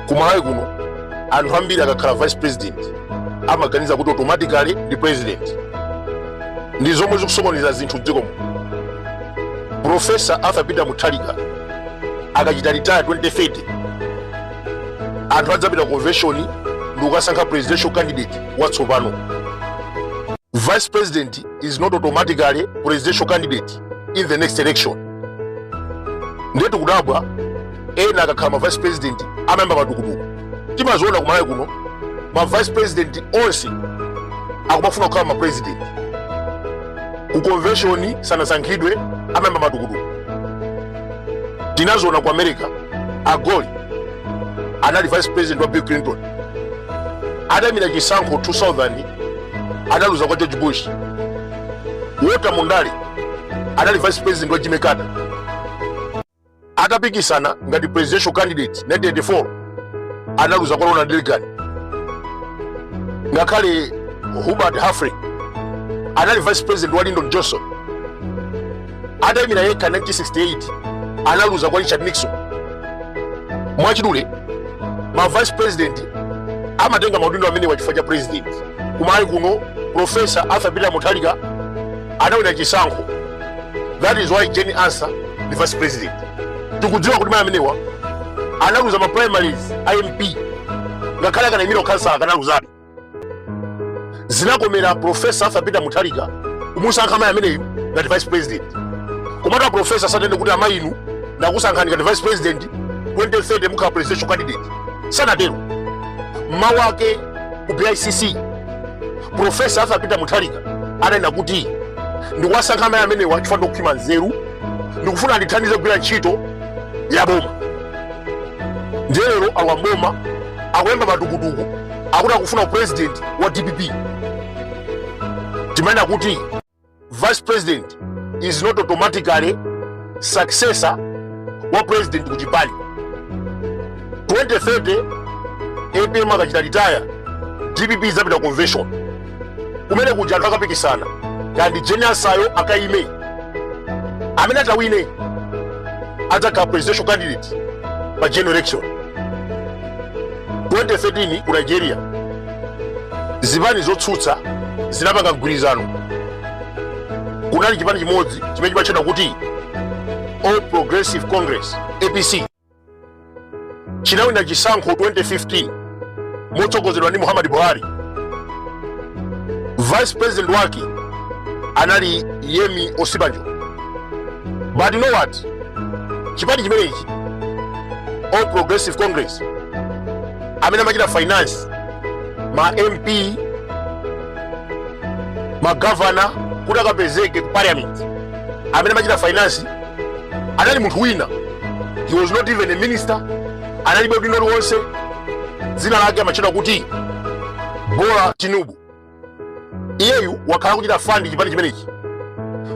ku malawi kuno anthu ambiri akakhala vice president amaganiza kuti automatically ndi president ndi zomwe zikusokoneza zinthu mdziko muno profesa arthur peter mutharika akachita retire 2030 anthu adzapita convention ndi kukasankha presidential candidate watsopano vice president is not automatically presidential candidate in the next election ndiye tikudabwa ena akakhala ma vice president amayamba matukutuku timaziona ku malawi kuno ma vice president onse akumafuna kukhala ma president ku convention sanasankhidwe amayamba matukutuku tinaziona ku america al gore anali vice president wa bill clinton adaimira chisankho 2000 adaluza kwa george bush Walter Mondale anali vice president wa Jimmy Carter atapikisana ngati presidential candidate 1984 analuza kwa Ronald Reagan. Ngakhale Hubert Humphrey anali vice president wa Lyndon Johnson atayimira yekha 1968 analuza kwa richard nixon mwachidule ma vice president amatenga maudindo amenewa chifukwa cha president ku malawi kuno profesa arthur peter mutharika anawina chisankho that is why jane ansah ndi vice president tikudziwa kuti mayi amenewa analuza ma primaries a mp ngakhale akanayimira ukhansala akanaluzabe zinakomera profesa arthur peter mutharika kumusankha amayi ameneyu ngati vice president komatu aprofesa sananene kuti amayi inu ndakusankhani ngati vice president 2030 mukhala presidential candidate sanatero mmawu ake ku bicc profesa arthur peter mutharika ananena kuti ndikuwasankha amayi amenewa chifukwa ndi okhwima nzeru ndikufuna andithandize kugwira ntchito ya boma ndiye lero alowa mboma akuyamba matukutuku akuti akufuna upresident wa dpp timanena kuti vice president is not automatically successor wa president ku chipani 2030 apm akachita retire dpp izapita convention kumene kuja anthu akapikisana ngati jane ansah yo akayime amene atawine adzakhala presidential candidate pa general election 2013 ku nigeria zipani zotsutsa zinapanga mgwirizano kunali chipani chimodzi chimene chimatchedwa kuti all progressive congress apc chinawina chisankho 2015 motsogozedwa ndi muhammadu buhari vice president wake anali yemi osinbajo but you know what chipani chimenechi all progressive congress amene amachita finance ma mp magavana kuti akapezeke ku parliament amene amachita finance anali munthu wina he was not even a minister analibe udindo uliwonse dzina lake amatchedwa kuti bola tinubu iyeyu wakhala kuchita fund chipani chimenechi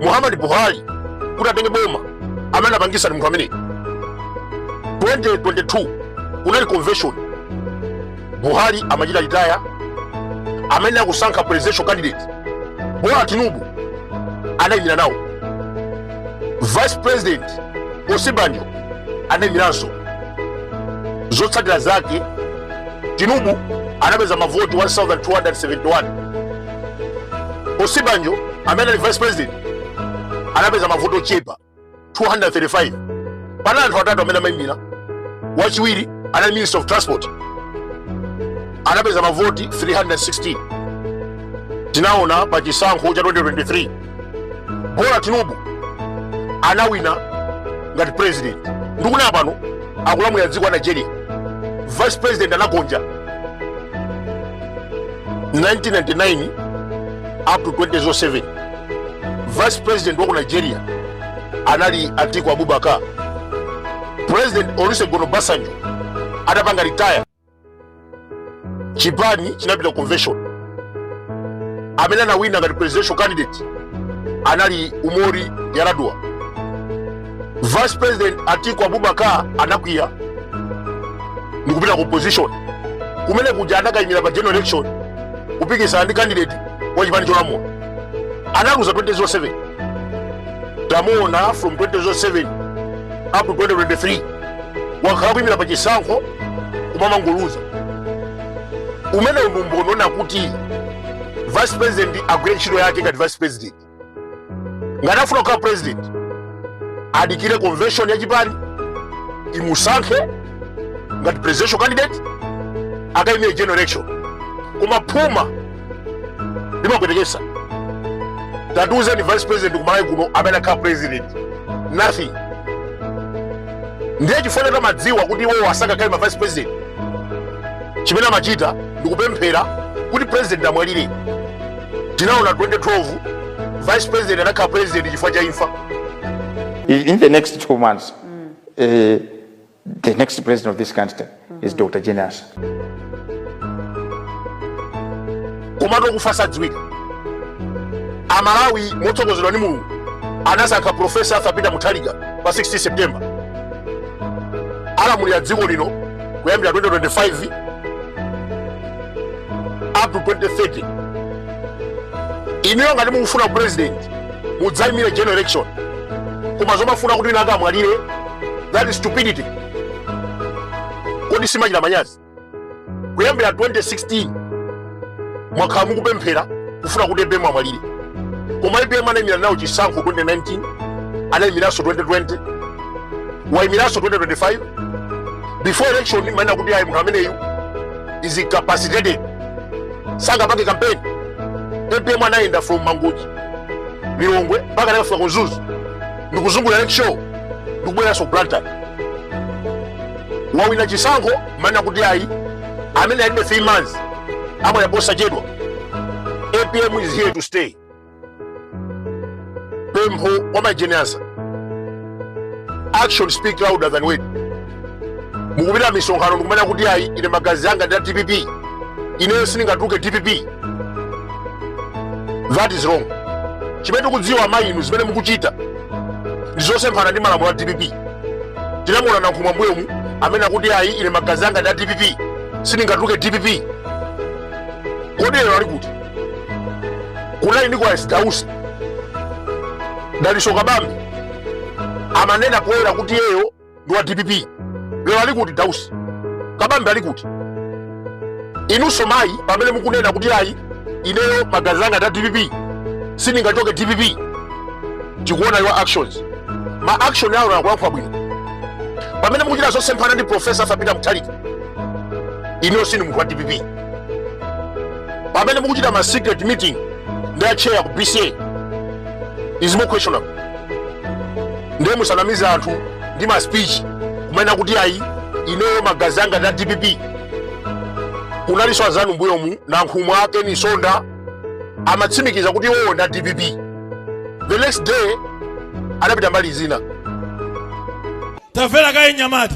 muhammadu buhari kuti atenge boma amene anapangisa ndi munthu ameneyi 2022 kunali convention buhari amachita retire amene akusankha presidential candidate bola tinubu anayimira nawo vice president osinbajo anayimiranso zotsatira zake tinubu anapeza mavoti 1271 osinbajo amene ali vice president anapeza mavoti ochepa 235 pa anthu atatu amene amaimira wachiwiri anali minister of transport anapeza mavoti 316 tinaona pa chisankho cha 2023 bola tinubu anawina ngati president ndikunena pano akulamulira dziko la nigeria vice president anagonja 1999 up to 2007 vice president wa ku nigeria anali atiku abubakar president olusegun obasanjo atapanga retire chipani chinapita ku convention amene anawina ngati presidential candidate anali umaru yaradua vice president atiku abubakar anakwiya ndikupita ku opposition kumene kuja anakayimira pa general election kupikisana ndi candidate wa chipani cholamula analuza 2007 tamuona from 2007 up to 2023 wakhala kuyimira pa chisankho kumamangoluza umenewu ndi umboni woti vice president agwire ntchito yake ngati vice president ngati afuna kukhala president adikire convention ya chipani imusankhe ngati presidential candidate akayimire general election koma phuma limapwetekesa tatiuzeni vice president kumalawi kuno amene adakhala president nothing ndiye chifukwa choti amadziwa kuti iwowo sangakhale ma vice president chimene amachita ndikupemphera kuti president amwalire tinaona 2012 vice president anakhala president chifukwa cha imfa in the next two months eh, The next president of this country is Dr. Jane Ansah. komatu okufa sadziwika amalawi motsogozedwa ndi mulungu anasankha profesa arthur peter mutharika pa 16 september alamulira dziko lino kuyambira 2025 up to 2030 inuyo ngati mukufuna u president mudzaimire general election koma zomafuna kuti winawake amwalire that is stupidity kodi simachita manyazi kuyambira 2016 mwakhala mukupemphera kufuna kuti apm amwalire koma apm anaimira nawo chisankho 2019 anaimiranso 2020 waimiranso 2025 before election mumanena kuti ayi munthu ameneyu is incapacitated sangapange campaign apm anayenda from mangochi lilongwe mpaka anakafika ku mzuzu ndikuzungulira lakeshore ndikubweranso ku blantyre wawina chisankho mumanena kuti ayi amene alibe 3 months amwalira posachedwa apm is here to stay pempho kwa mayi jane ansah action speak louder than word mukupita misonkhano ndikumanena kuti ayi ine magazi anga ndi a dpp ineyo sindingatuluke dpp that is wrong chimene tikudziwa amayi inu zimene mukuchita ndi zosemphana ndi malamulo a dpp tinamuona nankhumwa mbuyomu amanena kuti ayi ine magazi anga ndi a dpp sindingatuluke dpp kodi lero ali kuti kunali nicholas dausi dalitso kabambe amanena poyera kuti iyeyo ndi wa dpp lero ali kuti dausi kabambe ali kuti inunso mayi pamene mukunena kuti ayi ineyo magazi anga nda dpp sindingachoke dpp tikuona your actions ma action awo akulankhula bwino pamene mukuchita zosemphana ndi profesa arthur peter mutharika inuyo sindinu munthu wa dpp pamene mukuchita ma secret meeting ndi acheya ku bca is more questionable ndiye musanamize anthu ndi ma speech kumanena kuti ayi ineyo magazi anga nda dpp kunalinso anzanu mbuyomu nankhumwa a ken msonda amatsimikiza kuti iwowo nda dpp the next day anapita mbali zina tamvera kaye nyamata